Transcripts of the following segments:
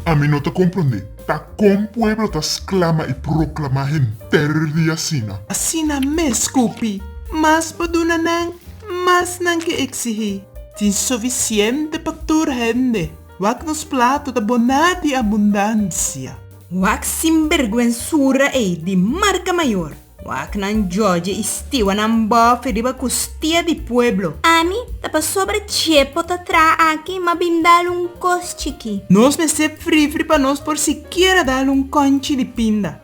Ami no ta comprende ta con pueblo ta sclama y proclama henter di asina. Asina mes Cupi, mas pa duna nan, mas nan ke exigi. Tin suficiente pa tur hende. Wak nos plato ta boná di abundansia. Wak sinbergwensura ei di marka mayor. Wak nan jòdje i stiwa nan bòfè riba kustia di pueblo. Ami ta pasobra Chepo ta traha aki ma bin dal un kos chikí. Nos mester frifri pa nos por sikiera dal un kònchi di pinda.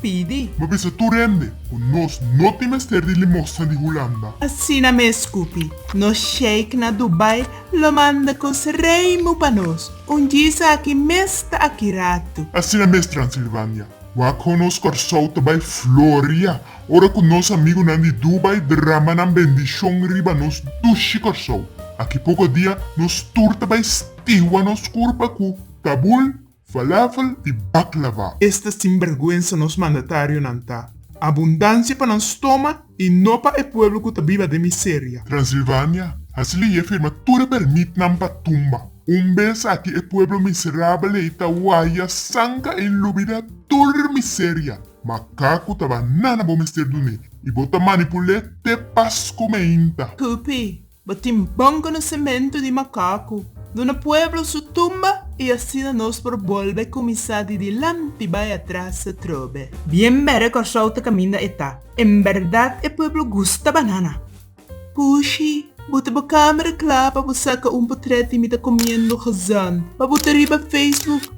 pidi. Bo bisa tur hende ku nos no tin mester di limosna di Hulanda. Asina mes kupi nos sheik na Dubai lo manda kos reimu pa nos, un djisa aki mes ta aki ratu. Asina mes Transilvania, Wak-Ho nos Kòrsou ta bai floria ora ku nos amigunan di Dubai drama nan bendishon riba nos dushi Kòrsou. Aki poko dia nos tur ta bai stiwa nos kurpa ku Kabul. Falafel di baklava. Esta sinbergwensa nos mandatarionan ta. Abundansia pa nan stoma y no pa e pueblo cu ta biba den miseria. Transilvania, hasi leye firma tur e permitnan pa tumba. Un bes aki e pueblo miserabeley ta waya sanka y lubida tur miseria. Makaku ta banana bo mester dune y bo ta manipule te pas cu meinta. Kupi, Bo tin bon konosementu di makaku. Duna pueblo su tumba i asina nos por bolbe kuminsá di dilanti bai atras atrobe. Bien bere Kòrsou ta kaminda e ta. En bèrdat e pueblo gusta banana. Pushi, bo ta bo kamera kla pa bo saka un potrèt di mi ta komiendo gezond pa bota riba Facebook?